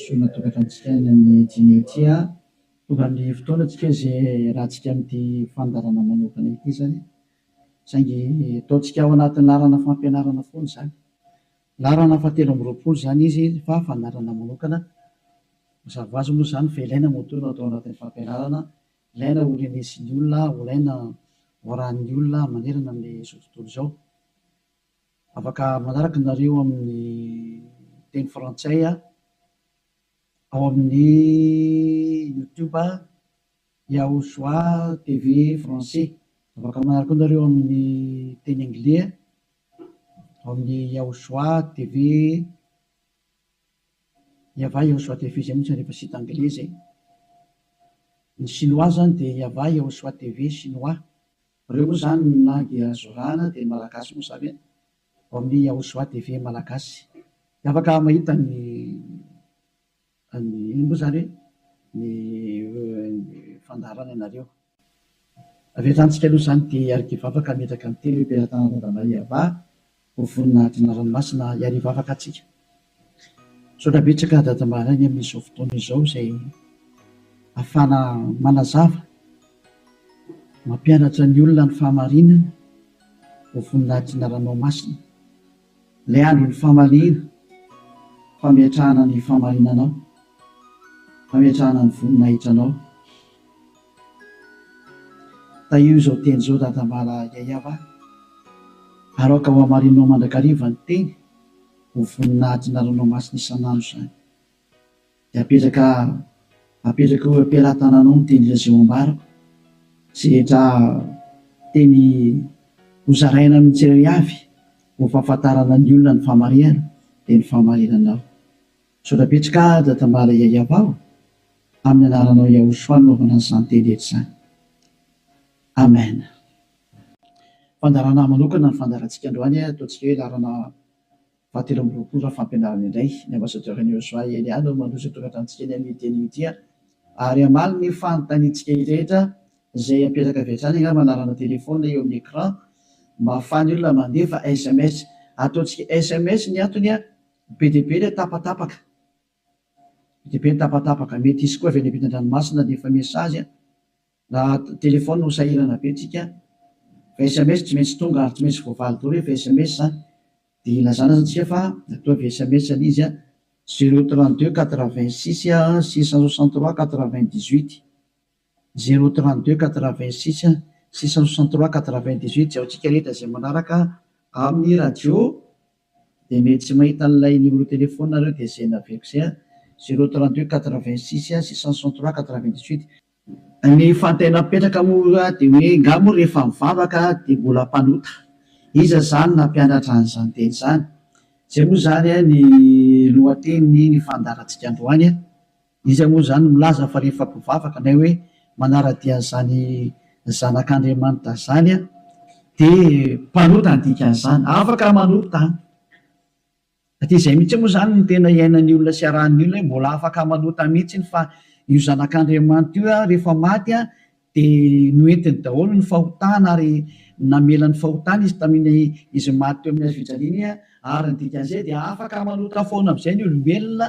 fisoronana tokantranontsika any amin'ny dimy eo ity an! Tonga ny fotoana tsika izay hiarahantsika amin'ity fandaharana manokana ity izany saingy ataontsika ao anatin'ny laharana fampianarana foana izany. Laharana fahatelo amby roapolo izany izy fa fandaharana manokana. Mazava ho azy moa izany fa ilaina moa toa no atao anatin'ny fampianarana, ilaina ho renesin'ny olona, ho ilaina ho arahin'ny olona manerana amin'izao tontolo izao. Afaka manaraka nareo amin'ny teny frantsay aho ao amin'ny youtube Yahoshua TV français. Afaka manaraka koa nareo amin'ny teny anglais ao amin'ny Yahoshua TV Yavah Yahoshua TV zay mintsy rehefa site anglais zay. Ny chinois zany dia Yavah Yahoshua TV chinois. Reo moa zany na dia zorana dia ny malagasy moa zany e! Ao amin'ny Yahosoa TV malagasy dia afaka mahita ny an'ny inona moa zany hoe ny fandaharana anareo. Avy hatrany tsika aloha zany dia hiarikivavaka hametraka ny teny hoe Mpiara-tana Randamaiavah Ho vonona hadina ranomasina hiary hivavaka atsika. Misaotra betsaka Dada Mbaraigny amin'izao fotoana izao izay afahana manazava, mampianatra ny olona ny fahamarinana. Ho vonona hadina ranomasina. Ilay andron'ny famaliana, fametrahana ny fahamarinanao, fametrahana ny voninahitranao. Tahio izao teny izao dadambala Yayava a! Aroaka ho hamarininao mandrakariva ny teny ho vonona hatina ranomasina isan'andro izany. Dia apetraka apetraka eo am-pelatananao ny teny Jeso ambarako sy rehetra teny ho zaraina amin'ny tsirairavy ho fahafantarana ny olona ny fahamarihana dia ny fahamarinanao. Misaotra betsy ka Dada Mbala Yayavao amin'ny anaranao Yahoshua anaovana an'izany teny rehetra izany. Amen. Fandaharana manokana ny fandaharantsika androany a, ataontsika hoe laharana fahatelo amby roapolo raha fampianarana indray. Ny Ambassadeur an'i Yahoshua Elia no mandroso atokantranontsika eny amin'ity teny ity a. Ary hamaly ny fanontaniantsika rehetra izay hapetraka avy hatrany angamba ny laharana téléphone eo amin'ny écran mba ahafahan'ny olona mandefa sms. Ataontsika sms ny antony a. Be dia be ilay tapatapaka. Be dia be ny tapatapaka. Mety hisy koa avy any ampitan-dranomasina dia efa message na téléphone no sahirana be tsika. Fa sms tsy maintsy tonga ary tsy maintsy voavaly daholo rehefa sms dia ilazana aza tsika fa toa avy sms ilay izy. Zero trente deux quatre vingt six six cent soixante trois quatre vingt dix huit. Zero trente deux quatre vingt six six cent soixante trois quatre vingt dix huit Jaontsika rehetra izay manaraka amin'ny radio dia mety tsy mahita an'ilay numéro téléphone nareo dia izay naveriko izay an! Zero trente deux quatre vingt six six cent soixante trois quatre vingt dix huit. Ny fantay napetraka moa dia hoe nga moa rehefa mivavaka dia mbola mpanota? Iza izany nampianatra an'izany teny izany? Izay moa izany ny lohatenin'ny fandaharantsika androany an! Iza moa izany milaza fa rehefa mpivavaka nay hoe manara-dia an'izany Zanak'Andriamanitra izany dia mpanota ny dikan'izany? Afaka manota an! Hatrizay mihitsy moa izany no tena iainan'ny olona sy iarahan'ny olona hoe mbola afaka manota mihitsy fa io Zanak'Andriamanitra io rehefa maty dia noentiny daholo ny fahotana ary namela ny fahotana izy tamin'ny izy maty teo amin'ny hazofijaliana ary ny dikan'izay dia afaka manota foana amin'izay ny olombelona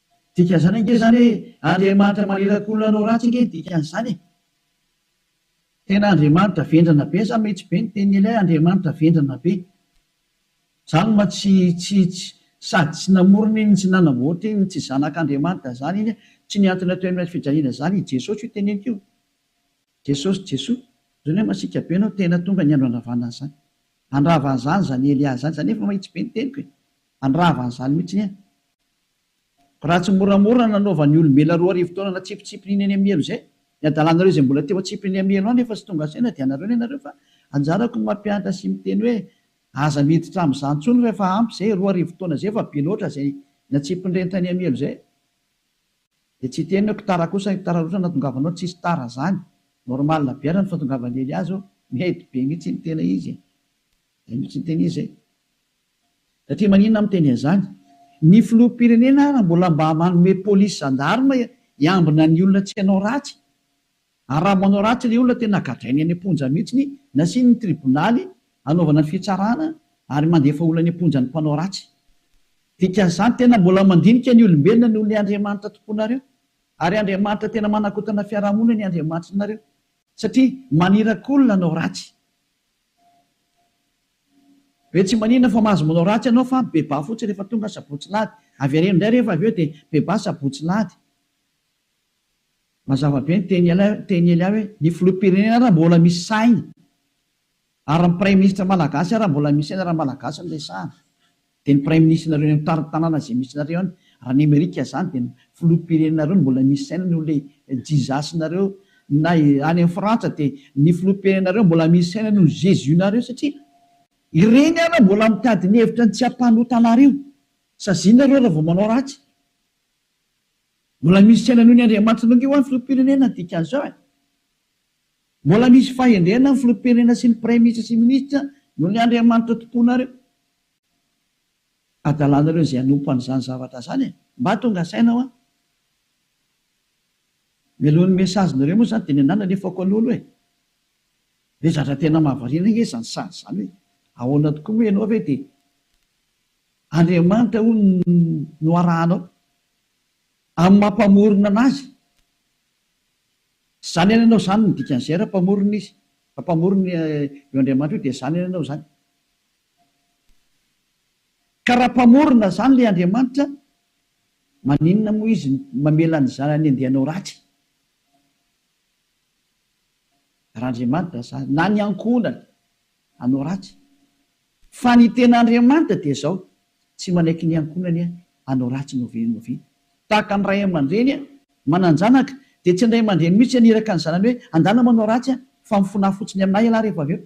Dikan'izany ange izany hoe Andriamanitra maniraka olona hanao ratsy ange ny dikan'izany e! Tena Andriamanitra vendrana be sa mety be ny tenin'i Elia Andriamanitra vendrana be? Zany ma tsy tsy tsy sady tsy namorona iny tsy nanamboatra iny tsy zanak'Andriamanitra zany iny tsy ny antony atao eny fijaliana zany i Jesosy io teneniko io Jesosy Jesoa zany hoe masiaka be anao tena tonga ny andro handravana an'izany handrava an'izany zany Elia zany za nefa mahitsy be ny teniko e handrava an'izany mitsiny an! Raha tsy moramora nanaovan'ny olombelona roa arivo taona natsipitsipin'iny any Amielo izay, ny hadalanareo izay mbola teo an-tsiprin'ny Amielo any efa tsy tonga saina dia anareo ny anareo fa anjarako ny mampianatra sy miteny hoe aza miditra amin'izany intsony fa efa ampy izay, roa arivo taona izay efa be loatra izay natsipin'ireny tany Amielo izay dia tsy hiteny hoe kotara kosa ny kotara loatra natongavanao, tsisy tara izany, normal be ara ny fahatongavan'i Eliazo, mety be mihitsy ny tena izy e! izay mihitsy ny tena izy e! Satria maninona miteny an'izany? Ny filoham-pirenena ary mbola mba manome polisy zandarma hiambina ny olona tsy hanao ratsy? Ary raha manao ratsy ilay olona tena gadrainy any am-ponja mihitsy, nasiany ny tribonaly hanaovana ny fitsarana ary mandefa olona any am-ponja ny mpanao ratsy. Dikan'izany tena mbola mandinika ny olombelona noho ilay Andriamanitra tompoinareo. Ary Andriamanitra tena manakotana fiarahamonina ny Andriamanitrinareo satria maniraka olona hanao ratsy. Be tsy maninona fa mahazo manao ratsy ianao fa bebà fotsiny rehefa tonga sabotsy lahady. Avereno indray rehefa avy eo dia bebà sabotsy lahady. Mazava be ny teny ela teny ela hoe ny filoham-pirenena ary mbola misy sainy ary ny praiminisitra malagasy ary mbola misy sainy raha malagasy no resahana. Dia ny praiminisitrinareo any amin'ny tanàna izay misy nareo any raha any amerika zany dia ny filoham-pirenenareo no mbola misy saina noho ilay jizasinareo na any amin'ny frantsa dia ny filoham-pirenenareo mbola misy saina noho ny jesus nareo satria ireny ary mbola mitady ny hevitra ny tsy hampanota anareo saziana nareo raha vao manao ratsy mbola misy saina noho ny andriamanitra nareo ho'a ny filoham-pirenena ny dikan'izao e mbola misy fahendrena ny filoham-pirenena sy ny praiminisitra sy ny minisitra noho ny andriamanitra tomponareo adalanareo izay hanompo an'izany zavatra izany e! Mba tonga saina hoa! Mialoha ny message nareo moa izany dia ny anah nalefako alolo e! Dia zatra tena mahavariana ange izany sazy izany hoe ahoana tokoa moa ianao ve dia Andriamanitra hono no arahanao amin'ny maha mpamorona an'azy? Tsy izany anie ianao izany no dikan'izay raha mpamorona izy, raha mpamorona io Andriamanitra io dia izany anie ianao izany. Ka raha mpamorona zany le Andriamanitra maninona moa izy mamela ny zanany andeha hanao ratsy? Raha Andriamanitra zany na ny ankohonany hanao ratsy fa ny tena Andriamanitra dia zao tsy manaiky ny ankohonany hanao ratsy novia novia tahaka ny ray aman-dreny manan-janaka dia tsy ny ray aman-dreny mihitsy haniraka ny zanany hoe andana manao ratsy fa mifona fotsiny aminay ialahy rehefa avy eo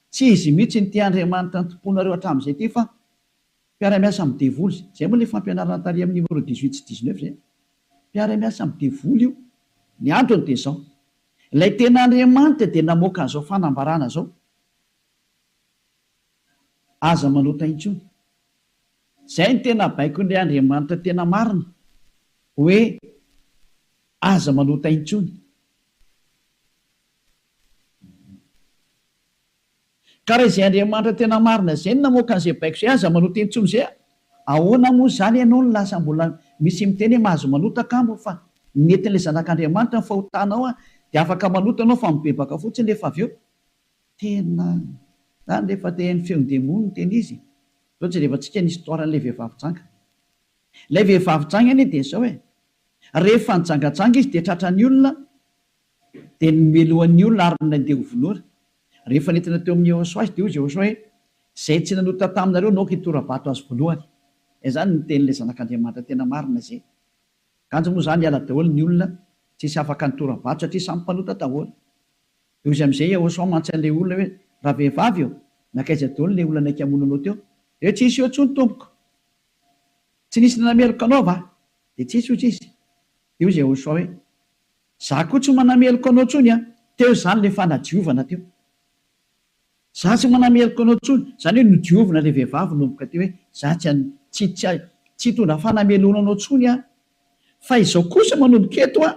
Tsy izy mihitsy no tia Andriamanitra nitompoanareo hatramin'izay ity fa mpiara-miasa amin'ny devoly izay. Izay moa ilay fampianarana tary amin'ny numéro dix huit sy dix neuf izay. Mpiara-miasa amin'ny devoly io. Ny antony dia izao. Ilay tena Andriamanitra dia namoaka an'izao fanambarana izao, Aza manota intsony. Izay no tena baikon'ilay Andriamanitra tena marina, hoe aza manota intsony. Ka raha izay Andriamanitra tena marina izay no namoaka an'izay baiko izay, aza manota intsony izay a! Ahoana moa izany ianao no lasa mbola misy miteny hoe mahazo manota kamo fa nentin'ilay Zanak'Andriamanitra ny fahotanao a! Dia afaka manota ianao fa mibebaka fotsiny rehefa avy eo. Tena izany rehefa te haino feon'ny demony no tena izy. Izao jereva tsika ny histoire an'ilay vehivavy janga. Ilay vehivavy janga anie dia izao e! Rehefa nijangajanga izy dia tratran'ny olona, Dia nomelohany ny olona ary nandeha ho vonoina. Rehefa nentina teo amin'i Yehosua izy, dia hoy izy Yehosua hoe, Izay tsy nanota taminareo naoka hitora-bato azy voalohany. Izany no tenin'ilay Zanak'Andriamanitra tena marina izay. Kanjo moa izany hiala daholo ny olona tsy hisy afaka nitora-bato satria samy mpanota daholo. Dia hoy izy amin'izay Yehosua mantsy an'ilay olona hoe, Ravehivavy ô, nankaiza daholo ilay olona naika hamono anao teo? Dia tsy nisy eo intsony tompoko. Tsy nisy nanameloka anao va? Dia tsy nisy hoy izy. Dia hoy izy Yehosua hoe, Za koa tsy manameloka anao tsony an! Teo izany le fanadiovana teo. Za tsy manameloka anao tsony, zany hoe nodiovina le vehivavy nomboka teo hoe za tsy an, tsy, tsy, tsy hitondra fanameloana anao tsony aho. Fa izao kosa manomboka eto an,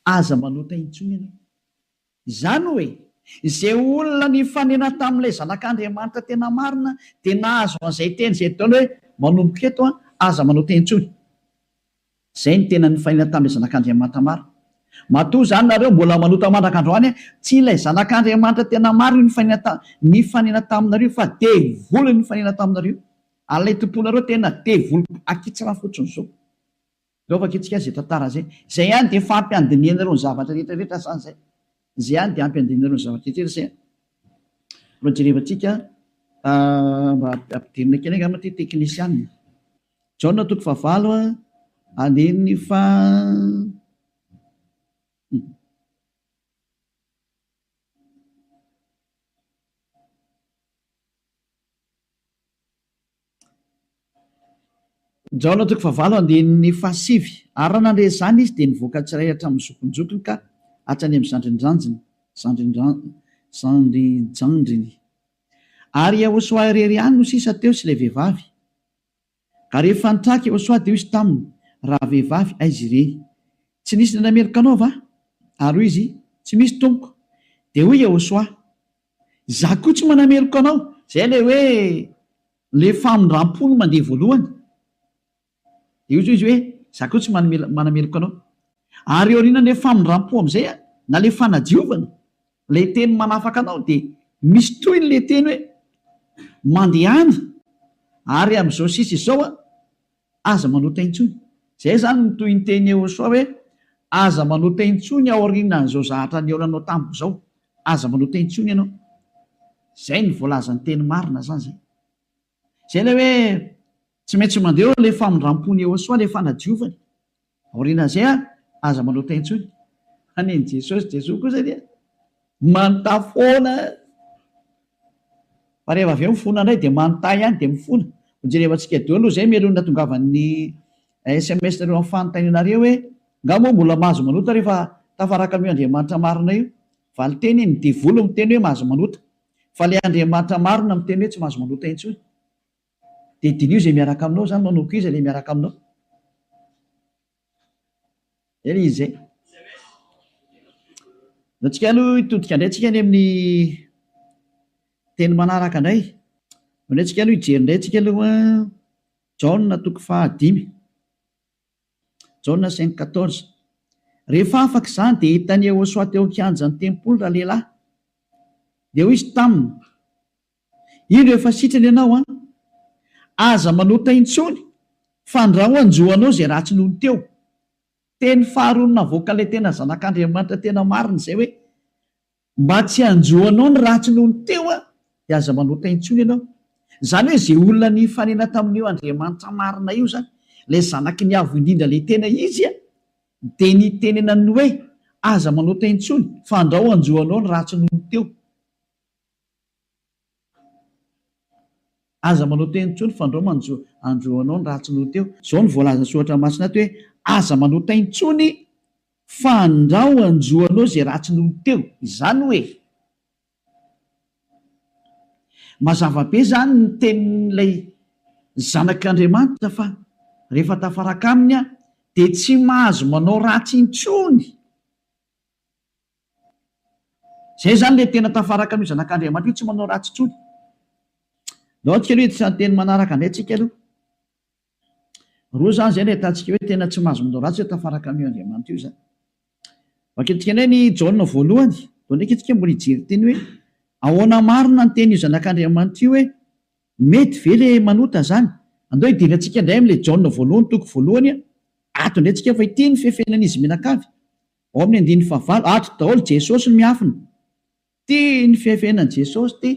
aza manota intsony ianao. Izany hoe, izay olona nifanena tamin'ilay Zanak'Andriamanitra tena marina dia nahazo an'izay teny izay ataony hoe, Manomboka eto, aza manao teny intsony. Izay no tena nifanena tamin'ilay Zanak'Andriamanitra marina. Matoa izany nareo mbola manota mandraka androany, tsy ilay Zanak'Andriamanitra tena marina io nifanena nifanena taminareo fa devoly no nifanena taminareo. Ary ilay tomponareo tena devoly akitsara fotsiny izao. Zao vakintsika izay tantara izay. Izay ihany dia efa ampy handinihanareo ny zavatra rehetra rehetra sa izay? Izay ihany dia ampy handinihanareo ny zavatra rehetra rehetra izay? Mba jerevantsika mba ampidirina kely angamba ity teknisianina. Jaona toko fahavalo andininy faha Jaona toko fahavalo andininy fahasivy. Ary raha nandre izany izy, dia nivoaka tsirairay hatramin'ny zokinjokiny ka hatrany amin'ny zandrinjanjiny, zandrinjan-, zandrijandriny. Ary i Iehosoa irery ihany no sisa teo sy ilay vehivavy. Ary rehefa nitraka i Iehosoa, dia hoy izy taminy, Rahavehivavy, aiza ireny? Tsy nisy indray nameloka anao va? Ary hoy izy, Tsy misy, tompoko. Dia hoy i Iehosoa, Izaho koa tsy manameloka anao. Izay ilay hoe ilay famindram-po no mandeha voalohany. Dia hoy izy hoe, Izaho koa tsy manameloka anao. Ary eo aorianan'ilay famindram-po amin'izay, na ilay fanadiovana, ilay teny manafaka anao, dia misy tohiny ilay teny hoe, Mandehana, ary amin'izao sisa izao aho. Aza manota intsony. Izay izany no tohin-teny Iehosoa hoe, Aza manota intsony aorianan'izao zahatra nihaonanao tamiko izao. Aza manota intsony ianao. Izay no voalazan'ny teny marina izany izay. Izay ilay hoe tsy maintsy mandeha eo ilay famindram-pon'i Iehosoa, ilay fanadiovany. Aorianan'izay ary, aza manota intsony, fa nen'i Jesosy, Jesoa kosa dia manota foana. Fa rehefa avy eo mifona indray dia manota ihany dia mifona. Hojereva antsika daholo izay mialohan'ny natongavan'ny sms nareo amin'ny fanontanianareo hoe, Nga moa mbola mahazo manota rehefa tafaraka amin'io Andriamanitra marina io? Valinteny, ny devoly miteny hoe mahazo manota. Fa ilay Andriamanitra marina miteny hoe tsy mahazo manota intsony. Dia diniho izay miaraka aminao izany manao quiz ilay miaraka aminao. Izay ilay izy izay. Dia antsika aloha hitodika indray antsika any amin'ny teny manaraka indray. Dia indray antsika aloha hijery indray antsika aloha Jaona toko fahadimy. Jaona cinq quatorze. Rehefa afaka izany dia hitan'i Yehosoa teo an-kianjan'ny tempoly ralehilahy. Dia hoy izy taminy, Indro efa sitrana ianao an! Aza manota intsony fandrao hanjo anao izay ratsy nony teo. Teny faharoa navoaka ilay tena zanak'Andriamanitra tena marina izay hoe, mba tsy hanjo anao ny ratsy nony teo an, dia aza manota intsony ianao. Izany hoe izay olona nifanena tamin'io Andriamanitra marina io izany, ilay zanaky ny Avo indrindra ilay tena izy an, dia nitenenany ny hoe, aza manota intsony fandrao hanjo anao ny ratsy nony teo. Aza manao teny intsony fa ndrao manjo anjo anao ny ratsy noho teo. Izao no voalazan'ny soratra masina ato hoe, Aza manao tay intsony fa ndrao anjo anao izay ratsy noho teo. Izany hoe, mazava be izany ny tenin'ilay zanak'Andriamanitra fa rehefa tafaraka aminy aho dia tsy mahazo manao ratsy intsony. Izay izany ilay tena tafaraka amin'io Zanak'Andriamanitra io, tsy manao ratsy intsony. Andao isika aloha hiditra ny teny manaraka indray isika aloha. Roa izany izay no ahitantsika hoe tena tsy mahazo manao ratsy izay tafaraka amin'io Andriamanitra io izany. Vakintsika indray ny Jaona voalohany, vao ndraika isika mbola hijery ny teny hoe ahoana marina ny tenin'io Zanak'Andriamanitra io hoe mety ve ilay manota izany. Andao hidinika antsika indray amin'ilay Jaona voalohany, toko voalohany, ato indray isika fa ity ny fefenan'izy mianakavy. Ao amin'ny andininy fahavalo, ato daholo Jesosy no miafina. Tia ny fihafenany Jesosy ty.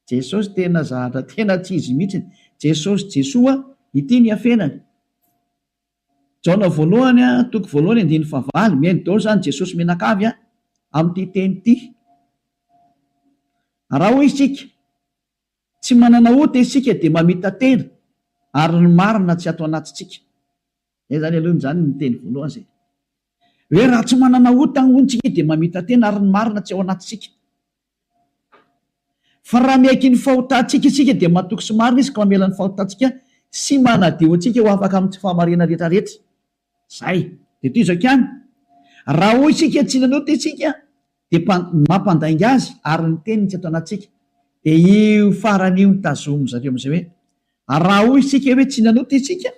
Jesosy tena zahatra tena tsy izy mihitsy. Jesosy Jesoa ity ny hafenany. Jaona voalohany a, toko voalohany andininy fahavalo, mihaino daholo izany Jesosy mianakavy a, amin'ity teny ity. Raha hoy isika, tsy manana ota isika dia mamita-tena ary ny marina tsy ato anatintsika. Zay zany aloha zany ny teny voalohany zay hoe raha tsy manana ota hono tsika dia mamita-tena ary ny marina tsy ao anatintsika. Fa raha miaiky ny fahotantsika isika dia matoky sy marina izy ka mamela ny fahotantsika sy manadio antsika ho afaka amin'ny tsy fahamariana rehetrarehetra. Zay. Dia toy izao ihany, raha hoy isika tsy nanota isika dia mpa, ny mampandainga azy ary ny teniny tsy ato anatintsika. Dia io farany io no tazomin-dry zareo amin'izay hoe, ary raha hoy isika hoe tsy nanota isika,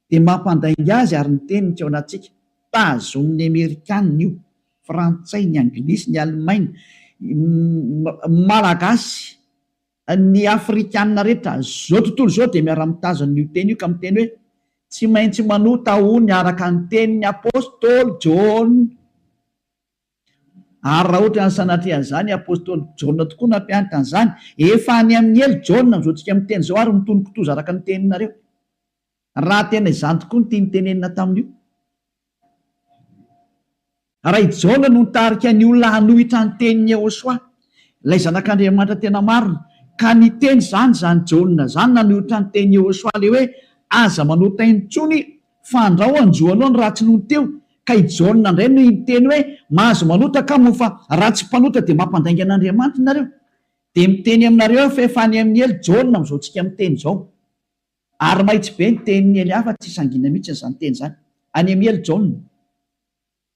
dia mampandainga azy ary ny teniny tsy ao anatintsika. Tazomin'ny Amerikana io, Frantsay, ny Anglisy, ny Alemaina, ny Malagasy, ny Afrikana rehetra izao tontolo izao dia miara-mitazona io teny io ka miteny hoe, tsy maintsy manota hono araka ny tenin'ny Apostoly Jaona. Ary raha ohatra ny sanatria izany apostoly Jaona tokoa nampianatra an'izany, efa any amin'ny helo Jaona amin'izao tsika miteny izao ary mitony kitoza araka ny teninareo. Raha tena izany tokoa ny tiany tenenina tamin'io. Raha i Jaona no nitarika ny olona hanohitra ny tenin'i Yehosua, ilay zanak'Andriamanitra tena marina, ka niteny izany izany Jaona izany nanohitra ny tenin'i Yehosua ilay hoe aza manota intsony Fandrao anjo aloha ny ratsy nony teo ka i Jaona indray no hiteny hoe mahazo manota ka moa fa raha tsy mpanota dia mampandainga an'Andriamanitra nareo dia miteny aminareo aho fa efa any amin'ny ely Jaona amin'izao tsika miteny izao ary mahitsy be ny tenin'ny ely hafa tsy sangina mihitsy izany teny izany any amin'ny ely Jaona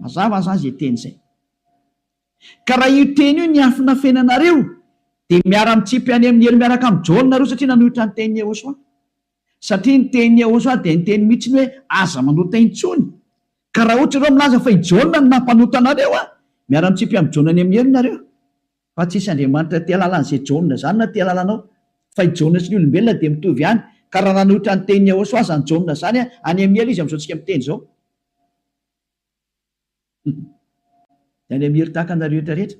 Mazava zany zay teny zay. Ka raha io teny io niafina fiainanareo dia miara mitsipy any amin'i Hery miaraka amin'i John nareo satria nanohitra ny tenin'i Yehosua. Satria ny tenin'i Yehosua dia niteny mitsiny hoe aza manota intsony. Ka raha ohatra ianareo milaza fa i John no nampanota anareo an! miara mitsipy amin'i John any amin'i Hery nareo. Fa tsisy Andriamanitra aty alalan'izay Jaona zany na ty alalanao. Fa i Jaona sy ny olombelona dia mitovy ihany. Ka raha nanohitra ny tenin'i Iahosoa azany Jaona zany any amin'ny hela izy amin'izao tsika miteny izao. Dia any amin'ny hery tahaka anareo eto rehetra.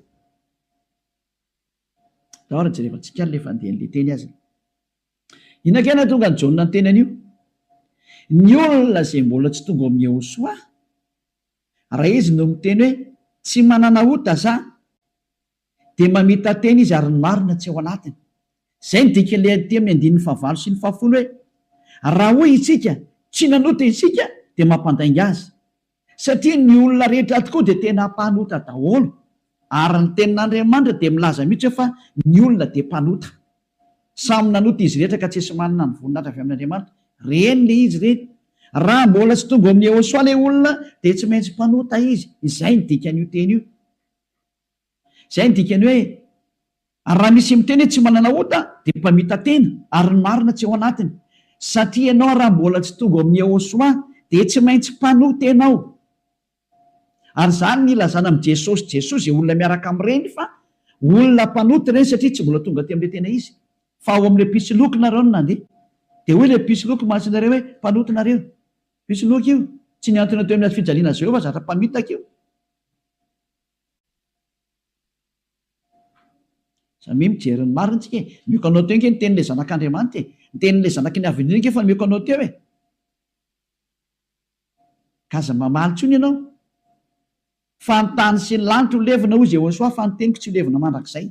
Tao ary jerevantsika ary le fandehan'le teny azy. Inona kay nahatonga an'i Jaona niteny an'io? Ny olona izay mbola tsy tonga ao amin'i Iahosoa. Raha izy no miteny hoe tsy manana ota za dia mamita-teny izy ary ny marina tsy ao anatiny. Izay ny dikan'ilay andiky amin'ny andininy fahavalo sy ny fahafolo hoe raha hoy isika tsy nanota isika dia mampandainga azy satria ny olona rehetra ato koa dia tena mpanota daholo ary ny tenin'Andriamanitra dia milaza mihitsy hoe fa ny olona dia mpanota. Samy nanota izy rehetra ka tsisy manana ny voninahitra avy amin'Andriamanitra. Reny le izy reny. Raha mbola tsy tonga ao amin'i Yehosoa le olona dia tsy maintsy mpanota izy. Izay ny dikan'io teny io. Izay ny dikany hoe raha misy miteny hoe tsy manana ota dia mpamita-tena ary ny marina tsy ao anatiny. Satria ianao raha mbola tsy tonga ao amin'i Yehosoa dia tsy maintsy mpanota ianao. Ary izany no ilazana amin'i Jesosy Jesosy izay olona miaraka amin'ireny fa olona mpanota ireny satria tsy mbola tonga teo amin'ilay tena izy fa ao amin'ilay mpisoloky nareo no nandeha. Dia hoy ilay mpisoloky masin'ireo hoe, Mpanota nareo. Mpisoloky io. Tsy nihantona teo amin'ny hazo fijaliana Jehovah fa zatra mpamitaka io. Samia mijery ny marina isika e. Mihoaka anao teo ange ny tenin'ilay Zanak'Andriamanitra e. Ny tenin'ilay Zanaky ny Avenir ange efa mihoaka anao teo e. ka aza mamaly intsony ianao fa ny tany sy ny lanitra ho levona hoy Jehosoa fa ny teniko tsy ho levona mandrakizay.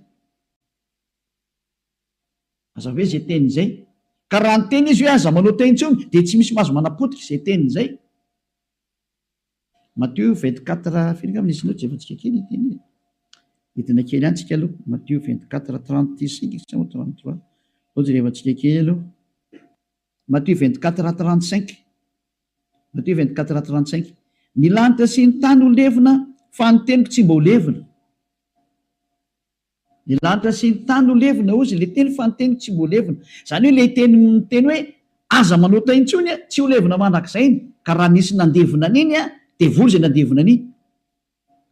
Mazava ve izay teniny izay? Ka raha niteny izy hoe aza manao teny intsony dia tsy misy mahazo manapotika izay teniny izay. Matthieu 24, firy angamba ny isinao jerentsika kely ity anie. Hidina kely any tsika aloha. Matthieu 24, 35 sa 33. Sao jerevantsika kely aloha. Matthieu vingt-quatre rat trente-cinq Matthieu vingt-quatre rat trente-cinq Ny lanitra sy ny tany ho levona fa ny teniko tsy mba ho levona Ny lanitra sy ny tany ho levona hozy ilay teny fa ny teniko tsy mba ho levona Izany hoe ilay teny miteny hoe aza manota intsony tsy ho levona mandrakizay ny ka raha nisy nandevona an'iny dia voa izay nandevona an'iny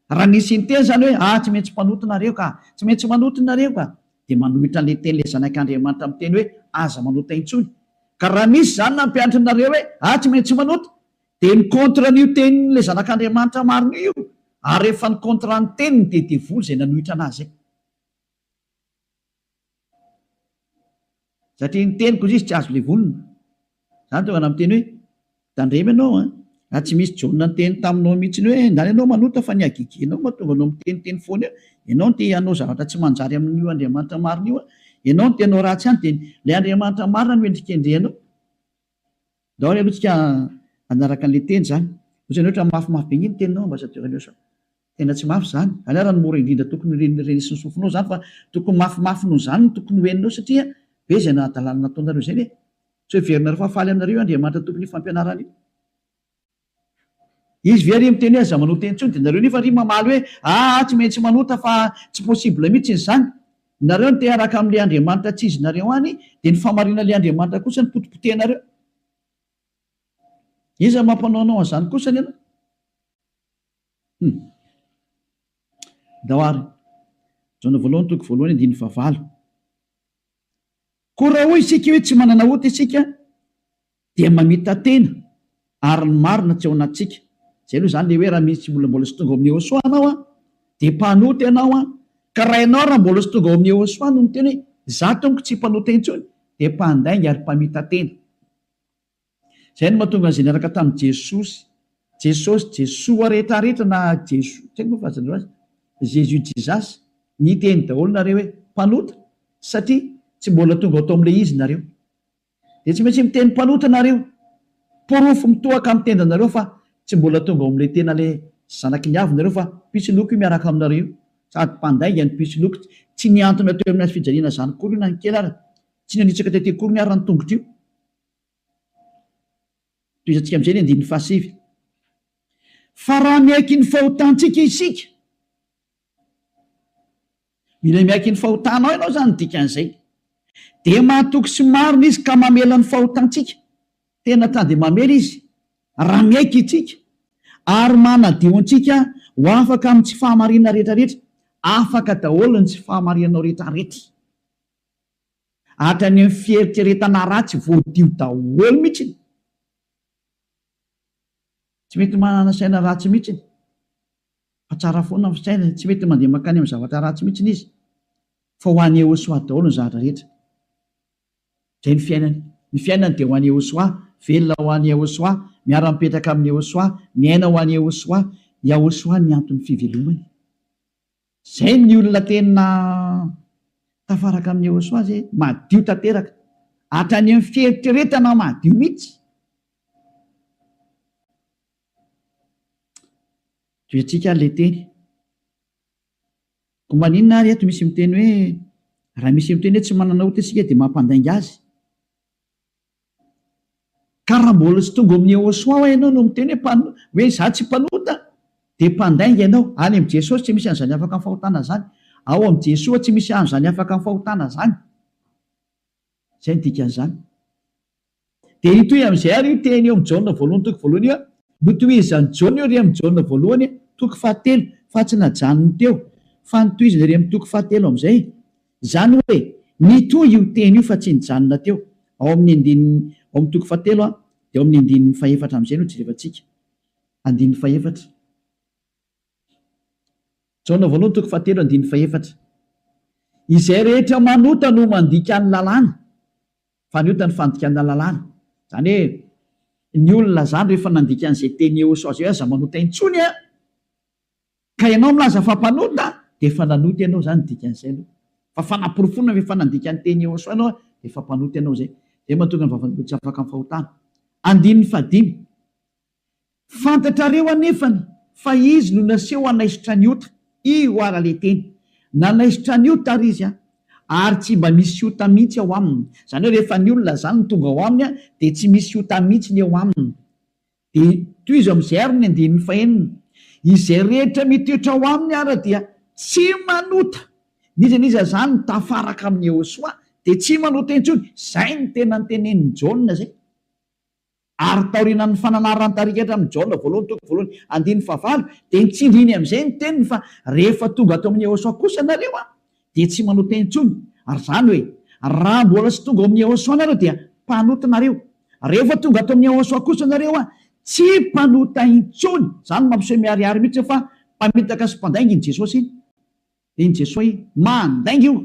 Raha ny sinteny izany hoe, ah, tsy maintsy mpanota nareo ka, tsy maintsy manota nareo ka, dia manohitra an'ilay teny ilay Zanak' Andriamanitra miteny hoe, aza manota intsony. Ka raha misy izany nampianatry nareo hoe, ah, tsy maintsy manota, dia ny contre an'io tenin' ilay Zanak' Andriamanitra marina io, ary rehefa ny contrat ny teniny dia devoly izay nanohitra anazy izay. Satria ny teniko hoy izy tsy azo levonina. Izany tonga namiteny hoe, Tandremo ianao an! Raha tsy misy Jaona niteny taminao mihitsiny hoe ndany ianao manota fa ny hagegenao mahatonga anao miteniteny foana eo, ianao no te hanao zavatra tsy manjary amin'io Andriamanitra marina io an! Ianao no te hanao ratsy ihany dia ilay Andriamanitra marina no hendrikendrehanao. Daholo aloha tsika hanaraka anle teny zany. Otrany hoe otrany mafy mafy be nge ny teninao ambassadeur aleo sao tena tsy mafy zany. Anao raha ny mora indrindra tokony ho ren'ny sy ny sofinao zany fa tokony mafy mafy noho zany no tokony ho henonao satria be zay nahadalana nataonareo zay ve? Tsy ho heverinareo fa faly aminareo io Andriamanitra tompon'io fampianarana io. Izy ve ary miteny hoe aza manota intsony dia nareo nefa ary mamaly hoe aa tsy maintsy manota fa tsy possible mitsiny zany. Nareo no te haraka amle Andriamanitra tsy izy nareo any dia ny famarinanle Andriamanitra kosa no potipotehinareo. Iza no mampanao anao anzany kosa ny anao? Hum. Ndao ary. Jaona voalohany toko voalohany andininy fahavalo. Koa raha hoy isika hoe tsy manana ota isika, Dia mamita-tena ary ny marina tsy ao anatintsika. Izay aloha izany le hoe raha misy tsy mbola mbola tsy tonga ao amin'ny Yehosua ianao an, dia mpanota ianao an, ka raha ianao raha mbola tsy tonga ao amin'ny Yehosua no miteny hoe izaho tompoko tsy mpanota intsony dia mpandainga ary mpamita-tena. Izay no mahatonga an'izay niaraka tamin'i Jesosy, Jesosy, Jesoa rehetra rehetra na Jesoa, tsy haiko moa fa aza andreo azy, Jésus, Jesus, niteny daholo nareo hoe mpanota satria tsy mbola tonga tao amin'ilay izy nareo. Dia tsy maintsy miteny mpanota nareo. Porofo mitohaka amin'ny tendanareo fa tsy mbola tonga ao amin'ilay tena ilay zanaky ny avy nareo fa pitsiloko io miaraka aminareo io. Sady mpandainga ny pitsiloko. Tsy nihantona teo amin'ny hazo fijaliana izany akory io na ny kely ary. Tsy nanitsaka tety akory ny haran'ny tongotro io. Tohizantsika amin'izay ny andininy fahasivy. Fa raha miaiky ny fahotantsika isika. Mila miaiky ny fahotanao ianao izany no dikan'izay. Dia mahatoky sy marina Izy ka mamela ny fahotantsika. Tena ta dia mamela Izy raha miaiky isika ary manadio antsika ho afaka amin'ny tsy fahamarinana rehetrarehetra. Afaka daholo ny tsy fahamarinanao rehetrarehetra. Hatrany amin'ny fieritreretana ratsy voadio daholo mihitsy. Tsy mety manana saina ratsy mihitsy. Fa tsara foana ny fisainany, tsy mety mandeha mankany amin'ny zavatra ratsy mihitsy izy, fa ho an'i Yehosua daholo ny zavatra rehetra. Izay ny fiainany. Ny fiainany dia ho an'i Yehosua, velona ho an'i Yehosua, miara-mipetraka amin'i Yehosua, miaina ho an'i Yehosua. Yahosua ny anton'ny fivelomany. Izay ny olona tena tafaraka amin'i Yehosua izay, madio tanteraka, hatrany amin'ny fieritreretana madio mihitsy. Diointsika ary ilay teny. Koa maninona ary eto misy miteny hoe raha misy miteny hoe tsy manana ota isika dia mampandainga azy? Ka raha mbola tsy tonga ao amin'ny Yehosoa ho'a ianao no miteny hoe mpan- hoe izaho tsy mpanota dia mpandainga ianao. Any amin'i Jesosy tsy misy an'izany afaka amin'ny fahotana izany. Ao amin'i Jesoa tsy misy an'izany afaka amin'ny fahotana izany. Izay no dikan'izany. Dia hitohy amin'izay àry io teny eo amin'ny Jaona voalohany toko voalohany io, Notohizan'i Jaona io re amin'ny Jaona voalohany toko fahatelo, fa tsy najanony teo, fa notohizany re amin'ny toko fahatelo amin'izay. Izany hoe nitohy io teny io fa tsy nijanona teo. Ao amin'ny andininy, ao amin'ny toko fahatelo dia ao amin'ny andininy fahefatra amin'izay no jerevantsika. Andininy fahefatra. Jaona voalohany toko fahatelo andininy fahefatra Izay rehetra manota no mandika ny lalàna, fa ny ota ny fandikana lalàna. Izany hoe, ny olona izany rehefa nandika an'izay teny eos azy hoe aza manota intsony an, ka ianao milaza fa mpanota, dia efa nanota ianao izany ny dikan'izay aloha. Fa fanaporofoana fa efa nandika ny teny eos ianao dia efa mpanota ianao izay. Izay no mahatonga ny vavan'olona tsy afaka amin'ny fahotana. Andininy fahadimy. Fantatrareo anefany fa izy no naseho hanaisotra an'i Ota, io ara le teny. Nanaisotra an'i Ota ary izy an! Ary tsy mba misy Ota mihitsy ao aminy. Izany hoe rehefa ny olona izany no tonga ao aminy dia tsy misy Ota mihitsy ny eo aminy. Dia tohizo amin'izay ary ny andininy fahenina, Izay rehetra mitoetra ao aminy ara dia tsy manota. N'iza n'iza izany tafaraka amin'i Iehosoa dia tsy manota intsony. Izay no tena notenenin'i Jaona izay. Ary taorianan'ny fananarana an-tarika hatramin'i Jaona voalohany toko voalohany andininy fahavalo, dia nitsindriny amin'izay ny teniny fa rehefa tonga ato amin'i Yehosua kosa ianareo dia tsy manota intsony, ary izany hoe, raha mbola tsy tonga ao amin'i Yehosua ianareo dia mpanota nareo, rehefa tonga ato amin'i Yehosua kosa ianareo tsy mpanota intsony, izany no mampiseho miharihary mihitsy fa mpamitaka sy mpandainga iny Jesosy iny, dia iny Jesosy mandainga io.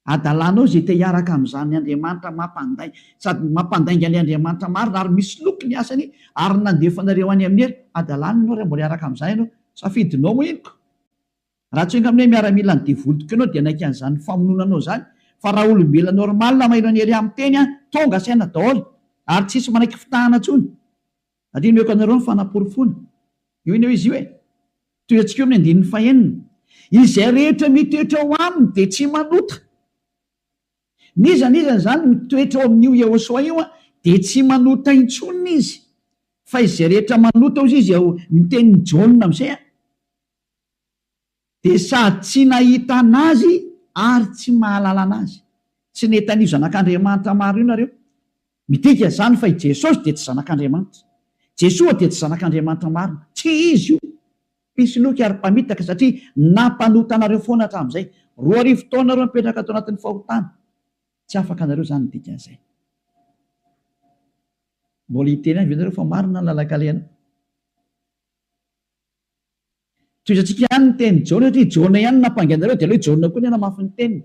Hadalanao izay te hiaraka amin'izany Andriamanitra mampandainga sady mampandainga ny Andriamanitra marina ary misy loky ny asany ary nandefa anareo any amin'ny helo hadalany ianao raha mbola hiaraka amin'izany ianao. Safidinao moa iny ka. Raha tsy enga aminay miaramila ny devoly tokony ianao dia hanaiky an'izany famonoana anao izany fa raha olombelona normal maheno an'i Hery miteny an, tonga saina daholo ary tsisy manaiky fitahana intsony. Andinihako anareo ny fanaporofoana. Io anie hoe izy io e. Tohiantsika eo amin'ny andininy fahenina. Izay rehetra mitoetra ao aminy dia tsy manota. N'iza n'iza izany mitoetra ao amin'io Yehosua io dia tsy manota intsony izy. Fa izay rehetra manota hozy izy ao ny tenin'i Jaona amin'izay a. Dia sady tsy nahita an'Azy ary tsy mahalala an'Azy. Tsy nety an'io Zanak'Andriamanitra maro io nareo. Midika izany fa i Jesosy dia tsy Zanak'Andriamanitra. Jesoa dia tsy Zanak'Andriamanitra marina. Tsy Izy io. Mpisoloky ary mpamitaka satria nampanota anareo foana hatramin'izay. Roa arivo taona ireo mipetraka tao anatin'ny fahotana. Tsy afaka nareo izany ny dikan'izay. Mbola hiteny ihany ve nareo fa marina ny lalan-kalehana? Tohizantsika ihany ny tenin'i Jaona satria i Jaona ihany no nampangaina anareo dia aleo i Jaona koa anie namafy ny teniny.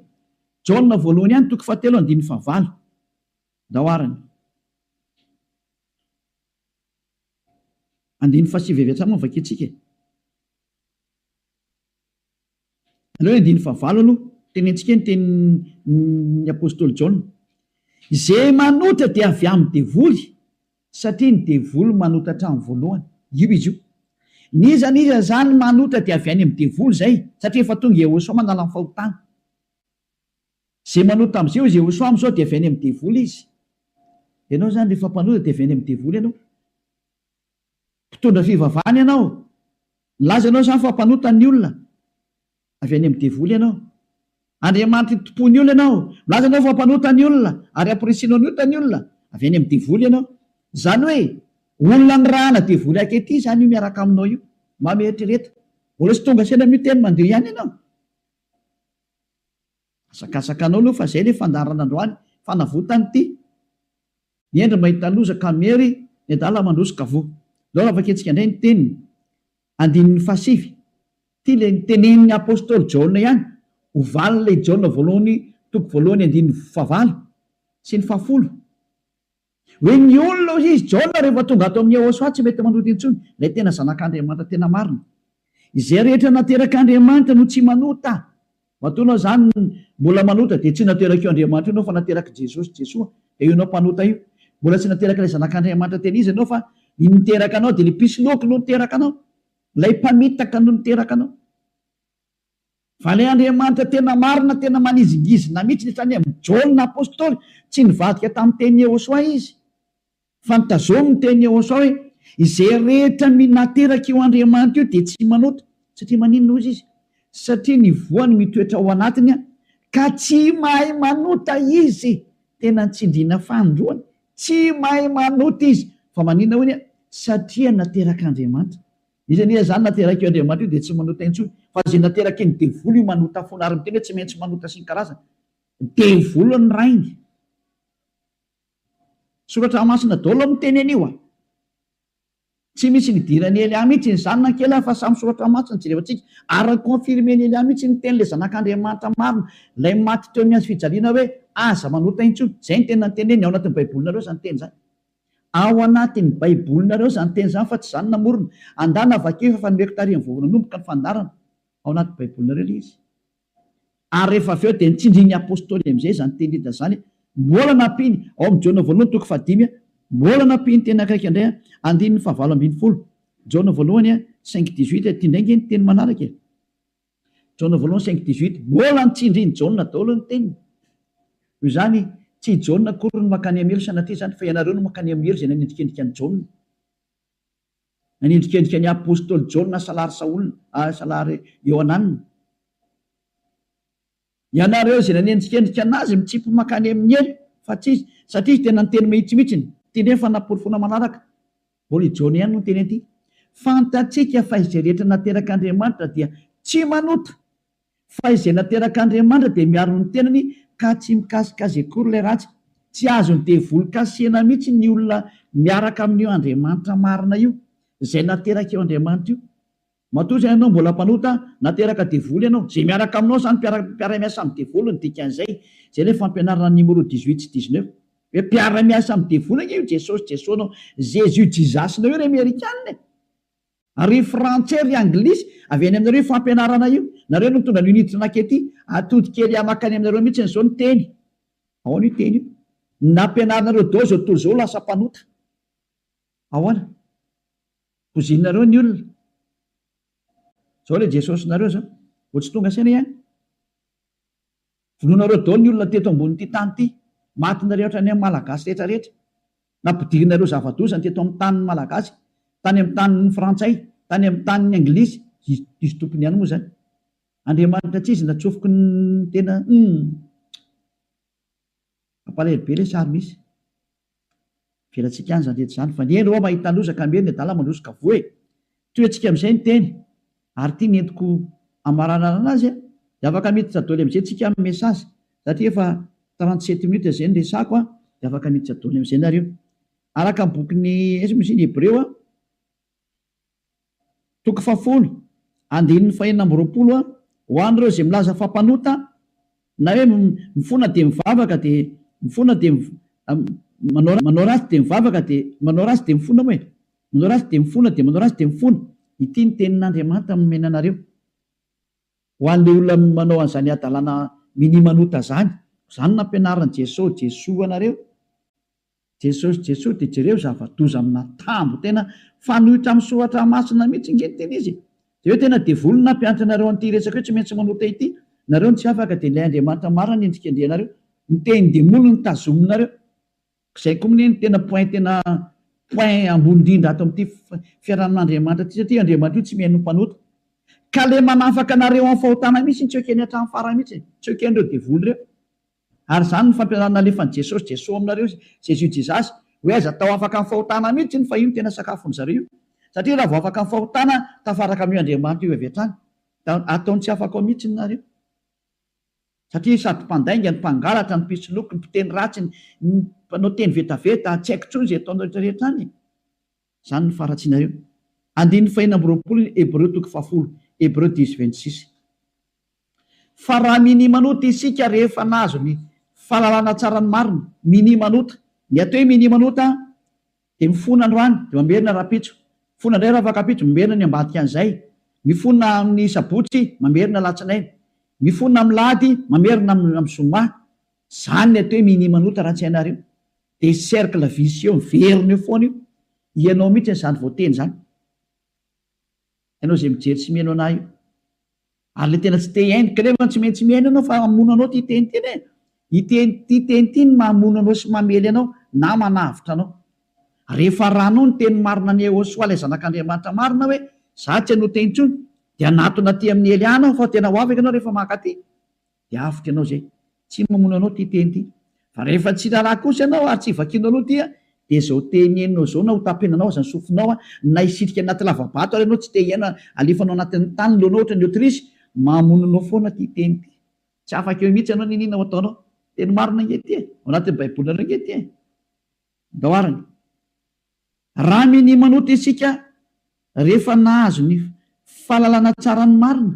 Jaona voalohany ihany toko fahatelo andininy fahavalo. Ndao ara ny. Andininy fahasivy avy hatrany moa no vakintsika e. Aleo andininy fahavalo aloha, tenentsika ny tenin'ny apostoly Jaona, Izay manota dia avy amin'ny devoly, satria ny devoly manota hatramin'ny voalohany. Io izy io. N'iza n'iza izany manota dia avy any amin'ny devoly izay, satria efa tonga Yehosua manala ny fahotana. Izay manota amin'izay hoy Yehosua amin'izao dia avy any amin'ny devoly izy. Ianao izany rehefa mpanota dia avy any amin'ny devoly ianao. Mpitondra fivavahana ianao. Nilaza ianao izany fa mpanota ny olona. Avy any amin'ny devoly ianao. Andriamanitra itompoan'ny olona ianao. Milaza ianao fa mpanota ny olona ary hampirisianao ny ota ny olona. Avy any amin'ny devoly ianao. Izany hoe olona nirahana devoly ankehitriny izany io miaraka aminao io. Mba mieritrereta. Mbola tsy tonga saina amin'io teny mandeha io ihany ianao. Hazakazakanao aloha fa zay le fandaharana androany fanavotany ty ny hendry mahita loza ka miery ny adala mandroso ka voa zao raha vakintsika indray ny teniny andininy fahasivy ty le nitenenin'ny apostoly jaona ihany ho valin'ilay jaona voalohany toko voalohany andininy fahavalo sy ny fahafolo Hoe ny olona hoy izy, Jaona rehefa tonga ato amin'i Yehosua tsy mety manota intsony, ilay tena Zanak'Andriamanitra tena marina. Izay rehetra naterak'Andriamanitra no tsy manota. Matoa ianao izany mbola manota dia tsy naterak'io Andriamanitra io ianao fa naterak'i Jesosy, Jesoa, dia io ianao mpanota io. Mbola tsy naterak'ilay Zanak'Andriamanitra tena izy ianao fa ny niteraka anao dia ilay mpisoloky no niteraka anao, ilay mpamitaka no niteraka anao. Valeandriamanitra tena marina tena manizingizina mitsy ny saina Jaona apostoly tsy nivadika tamin'ny teny Yehosoa izy fa nitazomy ny teny Yehosoa hoe izay rehetra minateraka io Andriamanitra io dia tsy manota satria maninona hozy izy satria ny voany mitoetra ao anatiny ka tsy mahay manota izy tena nitsindriana fanindroany tsy mahay manota izy fa maninona hoy satria naterak'Andriamanitra Izy anie izany naterak'io Andriamanitra io dia tsy manota intsony fa izay naterakin'ny devoly io manota foana ary miteny hoe tsy maintsy manota sy ny karazany. Devoly ny rainy. Soratra masina daholo no miteny an'io a! Tsy misy nidiran'i Elia mihitsy ny zanany kely a! Fa samy soratra masina no jerevantsika ary ni-confirmen'i Elia mihitsy ny tenin'ilay zanak'Andriamanitra marina, ilay maty teo amin'ny hazofijaliana hoe aza manota intsony. Izay no tena niteneniny, ao anatin'ny Baibolinareo izany teny izany. Ao anatin'ny Baibolinareo izany teny izany fa tsy izaho no namorona. Andana vakio efa nomeko tarihin'ny vao nanomboka ny fandaharana. Ao anaty Baibolinareo ilay izy. Ary rehefa avy eo dia notsindrin'ny Apôstôly amin'izay izany teny Lida izany. Mbola nampiany, ao amin'ny Jaona voalohany toko fahadimy, mbola nampiany teny akaiky indray, andininy fahavalo ambin'ny folo, Jaona voalohany cinq dix-huit, ity indray ange ny teny manaraka e. Jaona voalohany cinq dix huit, Mbola ny tsindrin'i Jaona daholo ny teniny. Noho izany, tsy i Jaona akory no mankany amin'ny helo sanatria izany, fa ianareo no mankany amin'ny helo izay nanendrikendrika an'i Jaona. Nanendrikendrika ny apostoly Jaona salary Saola, salary Iohanana. Ianareo izay nanendrikendrika an'azy mitsimpy mankany amin'ny helo fa tsy izy satria izy tena niteny mahitsy mihitsy ny teny efa naporofoana manaraka. Mbola i Jaona ihany no niteny an'ity. Fantatsika fa izay rehetra naterak'Andriamanitra dia tsy manota fa izay naterak'Andriamanitra dia miaro ny tenany ka tsy mikasika azy akory ilay ratsy. Tsy azon'ny devoly kasihina mihitsy ny olona miaraka amin'io Andriamanitra marina io, izay naterak'io Andriamanitra io. Matoa izay ianao mbola mpanota, nateraka devoly ianao, izay miaraka aminao izany mpiara-miasa amin'ny devoly no dikan'izay, izay ilay fampianarana an'i Nimoro dix huit sy dix neuf. Hoe mpiara-miasa amin'ny devoly ange io Jesosy Jesosnao, Jésus Jesus-nao io ry Amerikana e! Ary ry Frantsay ry Anglisy, avy any aminareo io fampianarana io, nareo no nitondra an'io Niditra Nakety, atody kely ahy makany aminareo mihitsiny izao ny teny, ahoana io teny io? ny nampianarinareo daholo izao tontolo izao ho lasa mpanota, ahoana? Pozinareo ny olona. Zao le Jesosinareo zao. Vao tsy tonga saina ihany. Vonoinareo daholo ny olona teto ambonin'ity tany ity. Maty ny rehetra ny amin'ny Malagasy rehetra rehetra. Nampidirinareo zava-doza ny teto amin'ny tanin'ny Malagasy. Tany amin'ny tanin'ny Frantsay. Tany amin'ny tanin'ny Anglisy. Diso tompony ihany moa zany. Andriamanitra tsy izy natsofoky ny tena. Humm. Mampalahelo be lesy ary misy. Velatsika any zany rehetra zany fa ny eny rô mahita loza ka miery ny adala mandroso ka voa e! Tohetsika amizay ny teny ary ty ny entiko amaranarana azy a! De afaka miditra doly amizay tsika am message satria efa trente sept minutes zay ny resako a! de afaka miditra doly amizay nareo araka ny bokin'ny ins moa izy iny hebreo a! Toko fahafolo, andininy fahenina amby roapolo a Ho an'ireo izay milaza fa mpanota, na hoe mifona dia mivavaka dia mifona dia manao manao ratsy dia mivavaka dia manao ratsy dia mifona moa e! manao ratsy dia mifona dia manao ratsy dia mifona, ity ny tenin'Andriamanitra nomena anareo ho an'ilay olona manao an'izany hadalana minia manota izany, koa izany nampianarin'i Jeso Jesoa anareo, Jesosy Jesosy de jereo zavadoza amina tambo tena fanoitra am soratra masina mitsy nge ny tena izy e! de hoe tena devoly ny nampianatra anareo anty resaka io tsy maintsy manota ity nareo ny tsy afaka de ilay Andriamanitra marina ny endrikendrihanareo ny tehin demoly no tazominareo zay ko mne ny tena point tena point ambony indrindra ato amty fiarahan Andriamanitra ty satria io Andriamanitra io tsy mihaino ny mpanota ka le manafaka anareo am fahotana mitsy tsy ekeny atram fara mitsy e! tsy ekenreo devoly reo. Ary izany no fampianarana nalefan'i Jesosy, Jeso aminareo, Jésus dit zas, hoe aiza tao afaka amin'ny fahotana mihitsy iny fa io no tena sakafon'ny zareo io. Satria raha vao afaka amin'ny fahotana tafaraka amin'io Andriamanitra io avy hatrany. Da ataony tsy afaka ao mihitsy ny nareo. Satria sady mpandainga ny mpangalatra ny mpisoloky ny mpiteny ratsy ny mpanao teny vetaveta, tsy haiko intsony izay ataonao rehetra rehetra any e. Izany no faharatsianareo. Andininy fahenina amby roapolo ny Hebreo toko fahafolo, Hebreu dix vingt six. Fa raha minimanota isika rehefa nahazo ny fahalalana tsara ny marina, minimanota, ny atao hoe minimanota dia mifona androany dia mamerina rahampitso, mifona indray rafakampitso, mamerina ny ambadikan'izay, mifona amin'ny sabotsy, mamerina alatsinainy, mifona amin'ny lahady, mamerina amin'ny zoma. Izany ny atao hoe minimanota raha tsy hainareo. Dia cercle vicieux miverina eo foana io, ianao mihitsy izany voateny izany, ianao izay mijery sy mihaino anah io, ary ilay tena tsy te hihaino, ka nefa tsy maintsy mihaino ianao fa hamono anao ity teny ity e, ity ity teny ity no mahamono anao sy mamely anao na manavotra anao, rehefa arahanao ny teny marina an'i Yehosua ilay zanak'Andriamanitra marina hoe izaho tsy hanota intsony, dia hanatona aty amin'i Elia aho fa tena ho afaka ianao rehefa mankaty, dia avotra ianao izay. Tsy mamono anao ity teny ity. Fa rehefa tsy raharaha kosa ianao ary tsy vakianao aloha ity dia izao teny henonao izao na hotapenanao aza ny sofinao na hisitrika anaty lava-bato ary ianao tsy te hihaino halefanao anatin'ny tany ny lohanao ohatran'ny autruche, mamono anao foana ity teny ity. Tsy afaka eo mihitsy ianao n'inona ho ataonao. Teny marina ange ity e! Ao anatin'ny baibolinareo ange ity e! Andao arany. Raha minia manota isika rehefa nahazo ny fahalalana tsara ny marina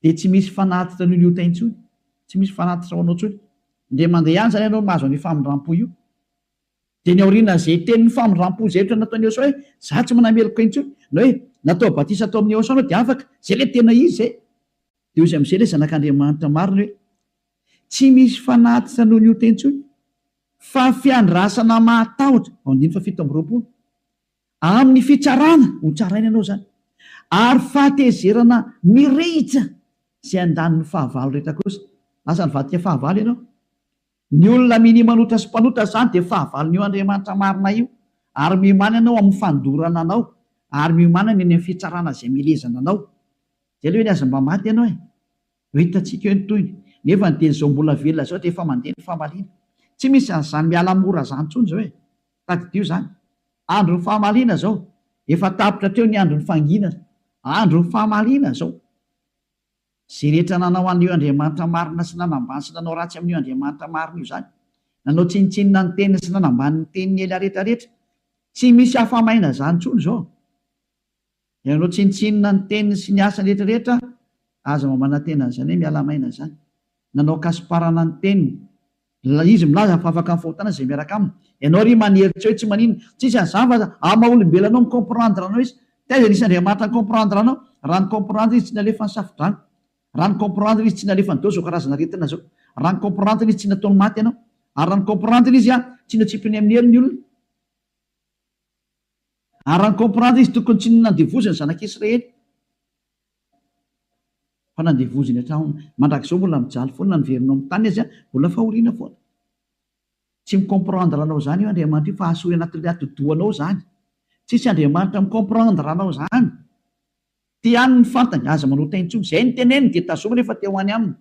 dia tsy misy fanatitra an'io ny ota intsony, tsy misy fanatitra ho anao intsony. Indray mandeha ihany izany ianao mahazo an'io famindram-po io. Dia ny aoriana izay tenin'ny famindram-po izay ohatra nataon'i Iehosoa hoe, izaho tsy manameloka intsony, na hoe natao batisa tao amin'i Iehosoa ianao dia afaka, izay ilay tena izy izay. Dia hoy amin'izay ilay Zanak'Andriamanitra marina hoe, Tsy misy fanatitra noho ny ota intsony, fa fiandrasana mahatahotra, ao andininy fahafito amby roapolo, amin'ny fitsarana, hotsaraina ianao izany, ary fahatezerana mirehitra izay andaniny fahavalo rehetra kosa. Lasa nivadika fahavalo ianao. Ny olona minia manota sy mpanota izany dia fahavalon'io Andriamanitra marina io, ary miomanana eo amin'ny fandorana anao, ary miomanana eny amin'ny fitsarana izay milezana anao. Dia aleo anie aza mba maty ianao e! Ho hitantsika eo ny tohiny. Nefa ny dia izao mbola velona izao dia efa mandeha ny famaliana. Tsy misy an'izany miala mora izany intsony izao e! Tadidio izany. Andron'ny famaliana izao. Efa tapitra hatreo ny andron'ny fanginana. Andron'ny famaliana izao. Izay rehetra nanao an'io Andriamanitra marina sy nanambany sy nanao ratsy amin'io Andriamanitra marina io izany, nanao tsinontsinona ny teniny sy nanambany ny tenin'i Elia rehetrarehetra, tsy misy afa-maina izany intsony izao. Ilay nanao tsinontsinona ny teniny sy ny asany rehetrarehetra, aza mamanantena an'izany hoe miala maina izany. Nanao kasiparana ny teniny. Izy milaza fa afaka ny fahotana izay miaraka aminy. Ianao ry manihery tsy hoe tsy maninona. Tsisy hazava aza aa maha olombelona anao mi-comprendre anao izy. Taiza nisy Andriamanitra ni-comprendre anao? Raha ni-comprendre izy tsy nalefa ny safodrano. Raha ni-comprendre izy tsy nalefa an'izao izao karazana aretina izao. Raha ni-comprendre izy tsy nataony maty anao. Ary raha ni-comprendre izy aa tsy natsipiny amin'ny heriny ny olona. Ary raha ni-comprendre izy tokony tsy nandevoziny ny zanak'Israely. Fa nandevoziny hatraona. Mandrakizao mbola mijaly foana ny verinao amin'ny tany aza mbola fahoriana foana. Tsy mi comprendre anao izany io Andriamanitra io fa asory anatin'ilay atidohanao izany. Tsisy Andriamanitra mi comprendre anao izany. Te hany ny fantany, aza manota intsony. Izay ny teneniny dia tazomina efa te ho any aminy.